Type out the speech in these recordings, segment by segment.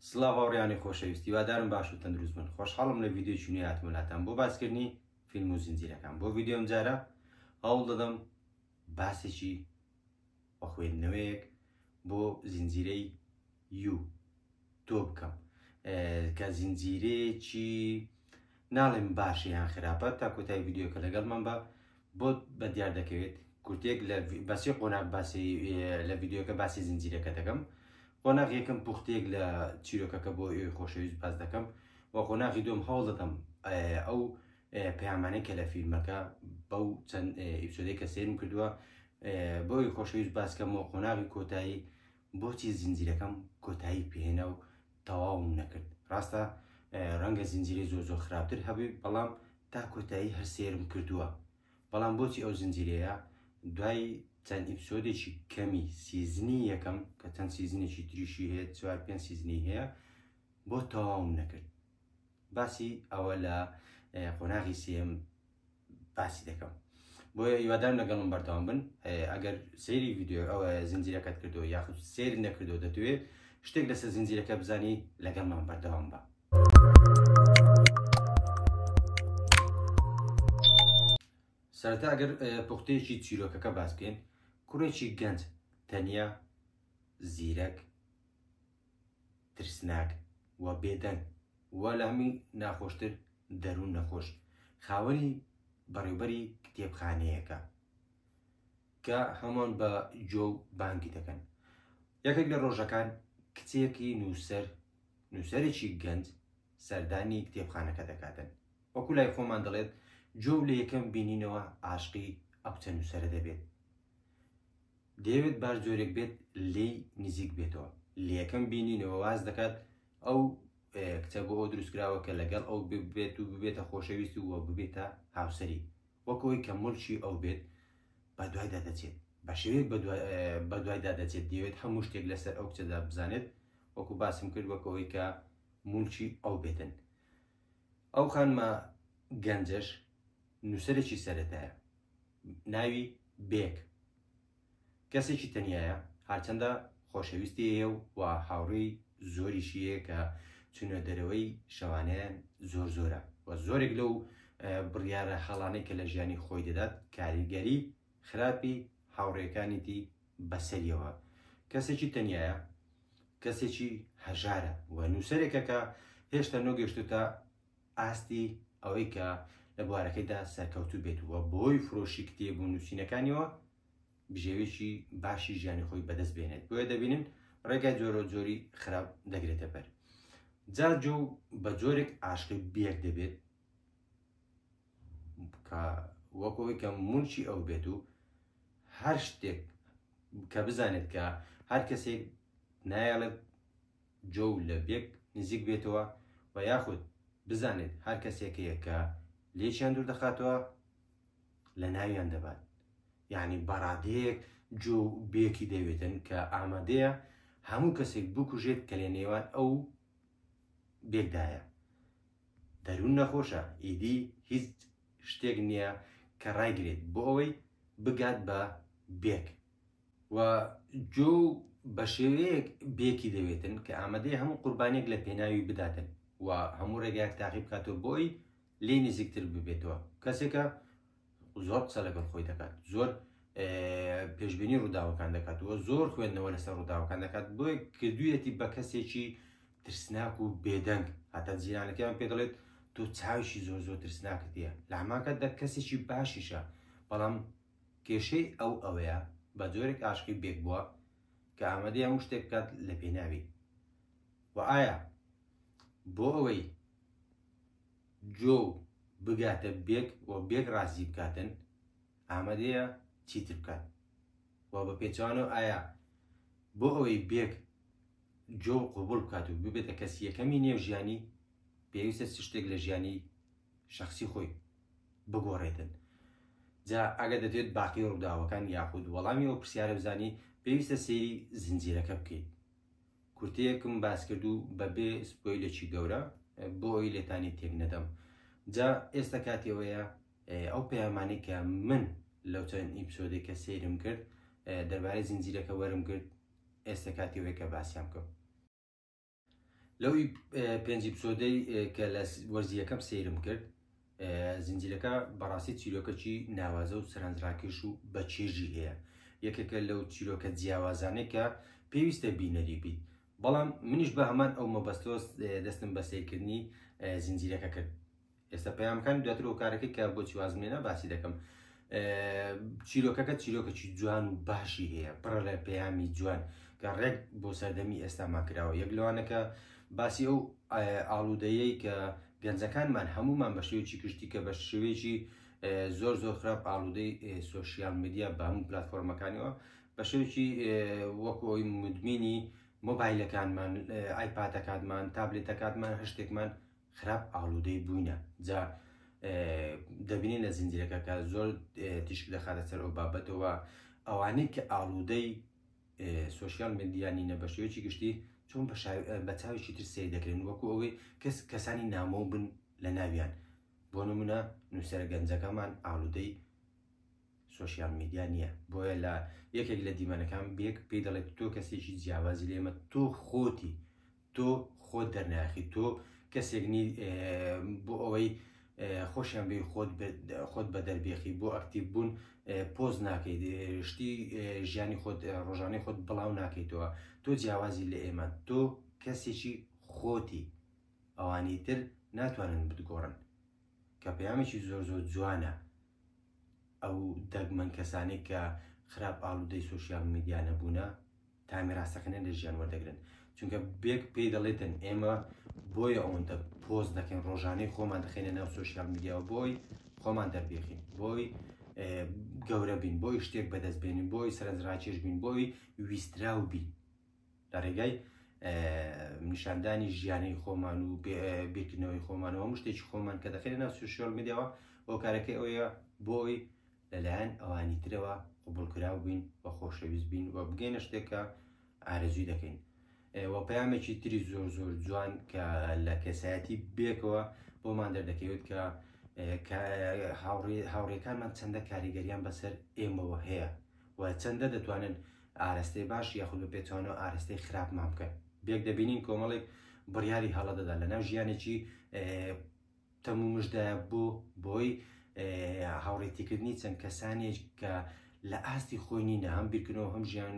سڵاو هاوڕێیانی خۆشەویست هیوادارم باش و تەندروست بن خۆشحاڵم لە ڤیدیۆیەکی نوێ هاتمە لاتان بۆ باسکردنی فیلم و زنجیرەکان بۆ ڤیدیۆ ئەمجارە هەوڵ دەدەم باسێکی و خوێندنەوەیەک بۆ زنجیرەی یو تۆ بکەم کە زنجیرەیەکی ناڵێم باشە یان خراپە تا کۆتایی ڤیدیۆکە لەگەڵمان بە بۆت بە دیار دەکەوێت کورتێک لە بەسی قۆناک باسی لە ڤیددیوکە باسی زنجیرەکە دەکەم قۆناغ یەکەم پوختێک لە چیرۆکەکە بۆ ئێوەی خۆشەویست باز دەکەم و قۆناغی دۆم هەوڵ دەدەم ئەو پەیامانەی کە لە فیلمەکە بەو چەند ئیپسۆدەی کە سێرم کردووە بۆی خۆشەویست باسکەم و قۆناغی کۆتایی بۆچی زنجیرەکەم کۆتایی پێێنە و تەواوم نەکرد ڕاستە ڕەنگە زنجیرەی زۆر زۆر خراپتر هەبێ بەڵام تا کۆتایی هەر سێرم کردووە بەڵام بۆچی ئەو زنجیرەیە دوای چەند ئیپسۆدێکی کەمی سیزنی یەکەم کە چەند سیزنێکی تریشی هەیە چوار پێنج سیزنی هەیە بۆ تەواوم نەکرد باسی ئەوە لە قۆناغی سێم باسی دەکەم بۆیە هیوادارم لەگەڵم بەردەوام بن ئەگەر سەیری ویددیو ئەوە زنجیرەکەت کردو یاخود سیر نەکردو دەتوێت شتێک لەسەر زنجیرەکە بزانی لەگەڵمان بەردەوام بە سەرەتا ئەگەر پوختەیەکی چیرۆکەکە باسکەین کوڕێکی گەنج تەنیا زیرەک ترسناک و بێدەنگ و لە هەمووی ناخۆشتر دەروون نەخۆش خاوەنی بەڕێوبەری کتێبخانەیەکە کە هەمووان بە جۆ و بانگی دەکەن یەکێک لە ڕۆژەکان کچێکی نووسەر نووسەرێکی گەنج سەردانی کتێبخانەکە دەکاتن وەکو لای خۆمان دەڵێت جۆ لە یەکەم بینینەوە عاشقی ئەو چەند نووسەرە دەبێت دەیەوێت باش جۆرێک بێت لێی نزیک بێتەوە لە یەکەم بینینەوە واز دەکات ئەو کچە بۆ ئەو دروستکراوە کە لەگەڵ ئەو ببێت و ببێتە خۆشەویست و ببێتە هاوسری وەکەوەی کە ملکی ئەو بێت بە دوایدا دەچێت بە شێوەیەک بە دوایدا دەچێت دەوێت هەموو شتێک لەسەر ئەو کچەدا بزانێت وەکو باسم کرد وەکەوەی کە ملکی ئەو بێتن ئەو خانمە گەنجەش نووسەرێکی سەرەتایە ناوی، بێک، کەسێکی تەنیایە، هەرچەندە خۆشەویستی هەیە و هاوڕێی زۆریشی هەیە کە چوونە دەرەوەی شەوانەیان زۆر زۆرە و زۆرێک لەو بڕیارە هەڵانەی کە لە ژیانی خۆی دەدات کاریگەری خراپی هاوڕێکانیتی بەسەریەوە کەسێکی تەنیایە کەسێکی هەژارە و نووسەرێکە کە هێشتا نۆگەشتوتە ئاستی ئەوەی کە لە بوارەکەیدا سەرکەوتوو بێت و بۆی فرۆشی کتێب و نووسینەکانیەوە بژێوێکی باشی ژیانی خۆی بەدەست بێنێت بۆیە دەبینن ڕێگای جۆرە جۆری خراپ دەگرێتە بەر جار جۆ بە جۆرێک ئاشقی بێک دەبێت کە وەکەوەی کە مونچی ئەو بێت و هەر شتێک کە بزانێت کە هەر کەسێک نایەڵێت جۆو لە بێک نزیک بێتەوە و یاخود بزانێت هەر کەسێک هەیە کە لێکیان دوور دەخاتەوە لە ناویان دەبات یعنی بەڕادەیەک جۆو بێکی دەوێتن کە ئامادەیە هەموو کەسێک بکوژێت کە لە نێوان ئەو بێکدایە دەروون نەخۆشە ئیدی هیچ شتێک نییە کە ڕایگرێت بۆ ئەوەی بگات بە بێک و جۆ بە شێوەیەک بێکی دەوێتن کە ئامادەی هەموو قوربانێک لە پێناوی بداتن و هەموو ڕێگایەک تاقی بکاتەوە بۆی لێ نزیکتر ببێتەوە کەسێکە زۆر قسە لەگەڵ خۆی دەکات زۆر پێشبینی ڕووداوەکان دەکات و زۆر خوێندنەوە لەسەر ڕووداوەکان دەکات بۆی کردویەتی بە کەسێکی ترسناک و بێدەنگ هاتە جیرانەکەیان پێ دەڵێت تۆ چاویشی زۆر زۆر ترسناکردە لە هەماکە دە کەسێکی باشیشە بەڵام کێشەی ئەو ئەوەیە بە جۆرێک ئاشقی بێک بووە کە ئامادەیە هەموو شتێک بکات لە پێناوی و ئایا بۆ ئەوەی جۆ بگاتە بێک و بێک ڕازی بکاتن ئامادەیە چیتر بکات و بە پێچوانەوە ئایا بۆ ئەوەی بێک جۆ قوبول بکات و ببێتە کەسی یەکەمی نێو ژیانی پێویستە چ شتێک لە ژیانی شخصی خۆی بگۆڕێتن جا ئەگەر دەتوێت باقی ڕووداوەکان یاخود وەڵامی ئەو پرسیارە بزانی پێویستە سەیری زنجیرەکە بکەیت کورتەیەکم باس کردو بەبێ سپۆیلێکی گەورە بۆ ئەوی لێتانی تێک نەدەم جا ئێستا کاتی ئەوەیە ئەو پەیامانەی کە من لەو چەند ئیپسۆدێک کە سەیرم کرد دەربارەی زنجیرەکە وەرم کرد ئێستا کاتی ئەوەیە کە باسیان بکەم لەوی پێنجی پسۆدەی کە لە وەرزی یەکەم سیرم کرد زنجیرەکە بەڕاستی چیرۆکەکی ناوازە و سەرنجڕاکێش و بە چێژی هەیە یەکێکە لەو چیرۆکە جیاوازانەی کە پێویستە بینەری بیت بەڵام منیش بە هەمان ئەو مەبەستۆس دەستم بە سیرکردنی زنجیرەکە کرد ئێستا پەیام بکەن دواتر و کارەکەی کە بۆچی وازم لێنا باسی دەکەم چیرۆکەکە چیرۆکەکی جوان و باشی هەیە پڕە لە پەیامی جوان کە ڕێک بۆ سەردەمی ئێستامان کراوە یەک لەوانەکە باسی ئەو ئاڵودەیەی کە گەنجەکانمان هەمومان بە شێوەیەکی گشتی کە بە شێوەیەکی زۆر زۆر خراپ ئاڵودەی سوسیال میدیا بە هەموو پلتفۆرمەکانەوە بە شێوکی وەکو ئەوی مدمینی مۆبایلەکانمان ئایپاتەکانمان تابلێتەکانمان هەشتێکمان خراپ ئاڵودەی بووینە جا دەبینین لە زنجیرەکە کە زۆر تیشک دەخاتە سەر ئەو بابەتەوە ئەوانەی کە ئاڵودەی سوۆسیال مدیانی نە بە شێوەیەکی گشتی چۆن بە چاوێکی تر سیر دەکرێن وەکو ئەوەی کەس کەسانی نامۆ بن لە ناویان بۆ نمونە نووسەر گەنجەکەمان ئاڵودەی سۆشیال میدیا نیە بۆیە لە یەکێک لە دیمەنەکان بێک پێی دەڵێت تۆ کەسێکی جیاوازی لێمە تۆ خۆتی تۆ خۆت دەرناخی تۆ کەسێک نی بۆ ئەوەی خۆشیان بێ خۆت خۆت بە دەربێخی بۆ ئەکتیب بوون پۆز ناکەیت شتی ژیانی خۆت ڕۆژانەی خۆت بڵاو ناکەیتەوە تۆ جیاوازی لە ئێمە تۆ کەسێکی خۆتی ئەوانی تر ناتوانن بتگۆڕن کە پەیامێکی زۆر زۆر جوانە ئەو دەگمەن کەسانەی کە خراپ ئاڵودەی سۆشیال میدیا نەبوونە تا میراسەکەنە لە ژیان وەردەگرن چونکە بێک پێی دەڵێتن ئێمە بۆیە ئەوەندە پۆز دەکەین ڕۆژانەی خۆمان دەخینە ناو سۆشیال میدیاوە بۆی خۆمان دەربێخین بۆی گەورە بین بۆی شتێک بەدەست بێنین بۆی سەرنجڕاکێش بین بۆی ویستراو بین لە ڕێگای نیشاندانی ژیانی خۆمان و بیرکردنەوەی خۆمانەوە هەموو شتێکی خۆمان کە دەخێنە ناو سوشیال میدیاوە هۆکارەکەی ئەوەیە بۆی لەلایەن ئەوانی ترەوە قوبولکراو بین و خۆشەویست بین و بگەینە شتێکە ئارەزوی دەکەین و پەیامێکی تری زۆر زۆر جوان کە لە کەسایەتی بێکەوە بۆمان دەردەکەوێت کە هاوڕێکانمان چەندە کاریگەریان بەسەر ئێمەوە هەیە و چەندە دەتوانن ئارەستەی باش یاخود بە پێچەوانەوە ئارەستەی خراپمان بکەن. بێک دەبینین کۆمەڵێک بڕیاری هەڵە دەدات لەناو ژیانێکی تەم و مژدایە بۆ بۆی هاوڕێتیکردنی چەند کەسانێک کە لە ئاستی خۆی نینە هەم بیرکردنەوە هەم ژیان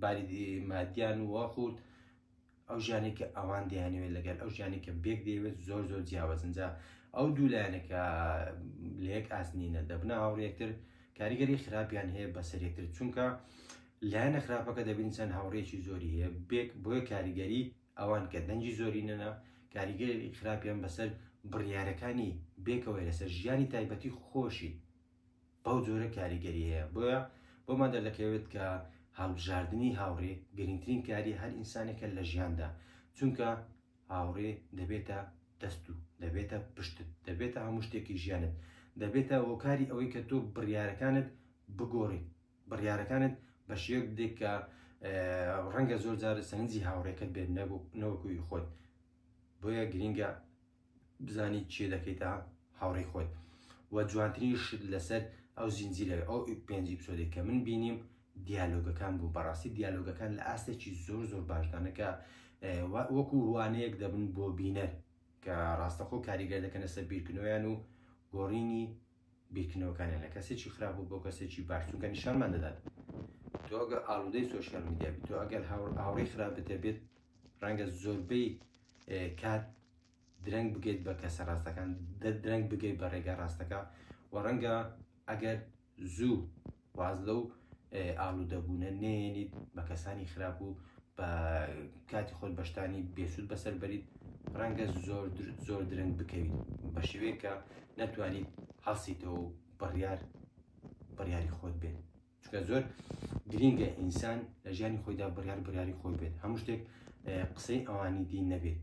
باری مادیان وەخورد ئەو ژیانەی کە ئەوان دەیانەوێت لەگەل ئەو ژیانەی کە بێک دەیەوێت زۆر زۆر جیاوازن جا ئەو دوو لایەنە کە لە یەک ئاست نینە دەبنە هاوڕێ یەکتر کاریگەری خراپیان هەیە بەسەر یەکتر چونکە لایەنە خراپەکە دەبین چەند هاوڕێکی زۆری هەیە بێک بۆیە کاریگەری ئەوان کە دەنگی زۆرینەنا کاریگەری خراپیان بەسەر بڕیارەکانی بێکەوەی لەسەر ژیانی تایبەتی خۆشی بەو جۆرە کاریگەری هەیە بۆیە بۆمان دەردەکەوێت کە هەڵبژاردنی هاوڕێ گرنگترین کاری هەر ئینسانێکە لە ژیاندا چونکە هاوڕێ دەبێتە دەست و دەبێتە پشتت دەبێتە هەموو شتێکی ژیانت دەبێتە هۆکاری ئەوەی کە تۆ بڕیارەکانت بگۆڕیت بڕیارەکانت بە شێوەک بدێک کە ڕەنگە زۆر جارە سەنجی هاوڕێکەت بێت نەوەکوی خۆت بۆیە گرینگە بزانی چی دەکەیتە هاوڕێی خۆت و جوانترین شت لەسەر ئەو زنجیرە ئەو پێنج ئیپسۆدێک کە من بینیم دیالۆگەکان بوو بەڕاستی دیالۆگەکان لە ئاستێکی زۆر زۆر باشدانەکە وەکو وانەیەک دەبن بۆ بینەر کە ڕاستەخۆ کاریگەر دەکەنە سەر بیرکردنەوەیان و گۆڕینی بیرکردنەوەکانیان لە کەسێکی خراپ بۆ کەسێکی باش چونکە نیشانمان دەدات تۆ ئەگە ئاڵودەی سۆشیال میدیا بیت تۆ ئەگەر هاوڕێی خراپت هەبێت ڕەنگە زۆربەی کات درەنگ بگەیت بە کەسە ڕاستەکان درەنگ بگەیت بە ڕێگا ڕاستەکە و ڕەنگە ئەگەر زوو واز لەو ئالودەبوونە نەیەنیت بە کەسانی خراپ و بە کاتی خۆت بەشتانی بێسود بەسەر بەریت ڕەنگە زۆر زۆر درەنگ بکەویت بە شێوەیە کە نەتوانیت هەڵسیتەوە بڕیار بڕیاری خۆت بێت چکە زۆر گرینگە ئینسان لە ژیانی خۆیدا بڕیار بڕیاری خۆی بێت هەموو شتێک قسەی ئەوانی دی نەبێت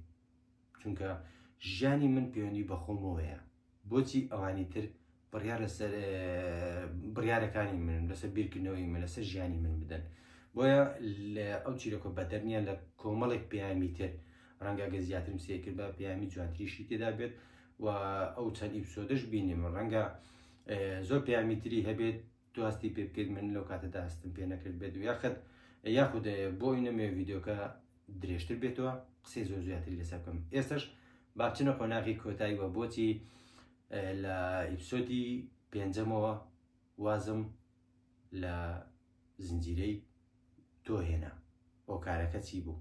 چونکە ژیانی من پەیوەندی بەخۆمەوەیە بۆچی ئەوانی تر بڕیار لەسەر بڕیارەکانی من لەسەر بیرکردنەوەی من لەسەر ژیانی من بدەن بۆیە لە ئەو چیرۆکە بەدەرنیە لە کۆمەڵێک پەیامی تر ڕەنگە گە زیاترم سێکرد بە پەیامی جوانتریشی تێدا بێت و ئەو چەند ئیپسۆدەش بینیم ڕەنگە زۆر پەیامی تری هەبێت دواستی پێ بکەیت من لەو کاتەدا هەستم پێ نەکرد بێت و یاخت یاخود بۆ ئینەمێ یددیوکە درێژتر بێتەوە قسەی زۆر زیاتری لەسەر بکەم ئێستش باچنە قۆناغی کۆتایی وە بۆچی لە ئیپسۆدی پێنجەمەوە وازم لە زنجیرەی تۆ هێنا هۆکارەکە چی بوو؟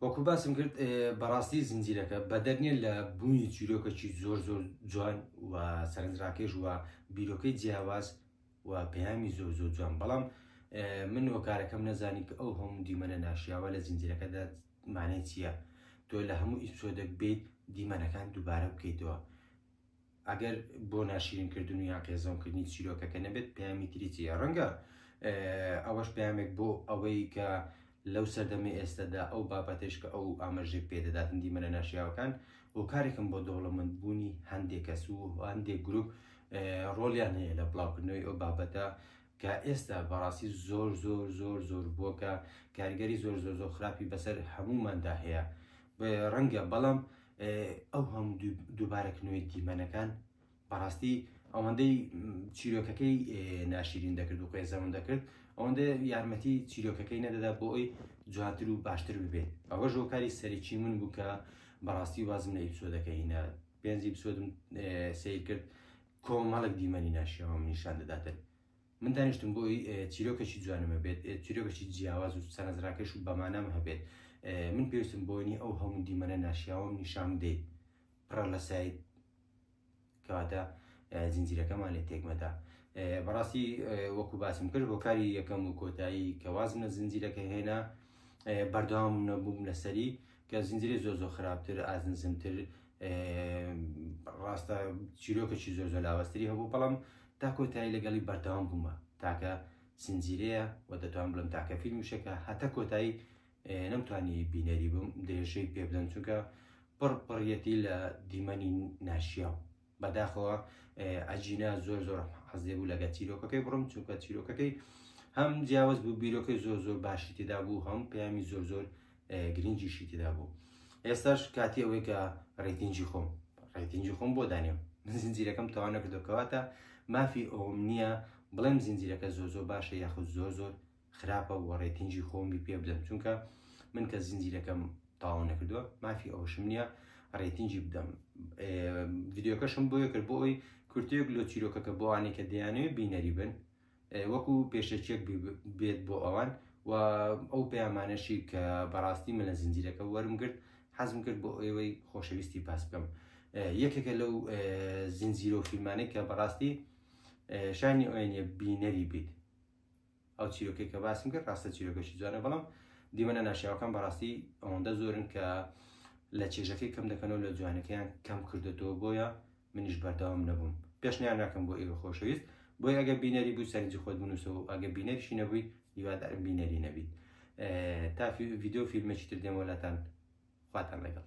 وەکو باسم کرد بەڕاستی زنجیرەکە بەدەر نیە لە بوونی چیرۆکەکی زۆر زۆر جوان و سەرنجڕاکێش و بیرۆکەی جیاواز و پەیامی زۆر زۆر جوان بەڵام من هۆکارەکەم نەزانی کە ئەو هەموو دیمەنە ناشیاوە لە زنجیرەکەدا مانای چییە تۆ لە هەموو ئیپسۆدەک بیت دیمەنەکان دووبارە بکەیتەوە ئەگەر بۆ ناشرین کردن و یا قێزەون کردنی چیرۆکەکە نەبێت پەیامی تریچیە ڕەنگە ئەوەش پامێک بۆ ئەوەی کە لەو سەردەمەی ئێستەدا ئەو بابەتەیش کە ئەو ئاماژەی پێ دەدات و دیمەنە ناشیاوەکان هۆکارێکن بۆ دەوڵەمەند بوونی هەندێک کەس و هەندێک گروپ ڕۆڵیان هەیە لە بڵاوکردنەوەی ئەو بابەتە کە ئێستا بەڕاستی زۆر زۆر زۆر زۆر بووە کە کاریگەری زۆر زۆر زۆر خراپی بەسەر هەمووماندا هەیە ڕەنگە بەڵام ئەو هەموو دووبارەکردنەوەی دیمەنەکان بەڕاستی ئەوەندەی چیرۆکەکەی ناشیرین دەکرد و قێزەون دەکرد ئەوەندە یارمەتی چیرۆکەکەی نەدەدا بۆ ئەوی جوانتر و باشتر ببێت ئەوە ژۆکاری سەرەکی من بوو کە بەڕاستی وازم لە ئیپسۆدەکە هینا پێنجی بسۆدم سیر کرد کۆمەڵک دیمەنی ناشیەوە من نیشان دەداتن من دانیشتم بۆی چیرۆکەکی جوانمە بێت چیرۆکەکی جیاواز و سەرنجڕاکەش و بەمانام هەبێت من پێویستم بۆنی ئەو هەموو دیمەنە ناشیاوەم نیشان بدەیت پڕە لە سایت کەواتە زنجیرەکەمان لێ تێکمەدا بەڕاستی وەکو باسم کرد هۆکاری یەکەم و کۆتایی کە وازم لە زنجیرەکە هێنا بەردەوام نەبووم لەسەری کە زنجیری زۆر زۆر خراپتر ئازنزمتر ڕاستە چیرۆکەی زۆر زۆر لاوەستری هەبوو بەڵام تا کۆتایی لەگەڵی بەردەوام بوومە تاکە زنجیرەیە و دەتوان بڵم تاکە فیلمشەکە هەتا کۆتایی نەمتوانی بینەری بم درێژەی پێبدەم چونکە پڕ پڕیەتی لە دیمەنی ناشیاو بەداخەوە ئەجینا زۆر زۆر حەزێ بوو لەگە چیرۆکەکەی بڕم چونکە چیرۆکەکەی هەم جیاوز بوو بیرۆکەی زۆر زۆر باشی تێدا بوو هەم پەیامی زۆر زۆر گرنگیشی تێدا بوو ئێستاش کاتی ئەوەی کە ڕێتینجی خۆم ڕێتینجی خۆم بۆ دانێم من زنجیرەکەم تەوا نەکردەکەواتە مافی ئەوم نییە بڵێم زنجیرەکە زۆر زۆر باشە یاخود زۆر زۆر خراپە وە ڕێتینگی خۆمی پێ بدەم چونکە من کە زنجیرەکەم تاو نەکردووە مافی ئەوشم نییە ڕێتینگی بدەم ڤیددیوکەشم بۆیە کرد بۆ ئەوی کورتێک لۆ چیرۆکەکە بۆوانێ کە دەیانەوێ بینەری بن وەکو پێشەکیەک بێت بۆ ئەوان و ئەو پەیامانەشی کە بەڕاستی من لە زنجیرەکە وەرم کرد حەزم کرد بۆ ئێوەی خۆشەویستی پاس بکەم یەکێکە لەو زنجیرۆ فیلمانێک کە بەڕاستی شانی ئۆێنە بینەری بیت ئەو چیرۆکەی کە باسم کرد ڕاستە چیرۆکەشی جوانە بەڵام دیمەنە ناشیاوەکان بەڕاستی ئەوەندە زۆرن کە لە چێژەکەی کەم دەکەنەوە لە جوانەکەیان کەم کردێتەوە بۆیە منیش بەردەوام نەبووم پێشنیار ناکەم بۆ ئێوە خۆشەویست بۆی ئەگە بینەری بوو سەرنجی خۆت بنووسەوە و ئەگە بینەریشی نەبووی هیوادارم بینەری نەبیت تا ڤیددیو فیلمێکی تر دێمەلاتان خواتان لەگەڵ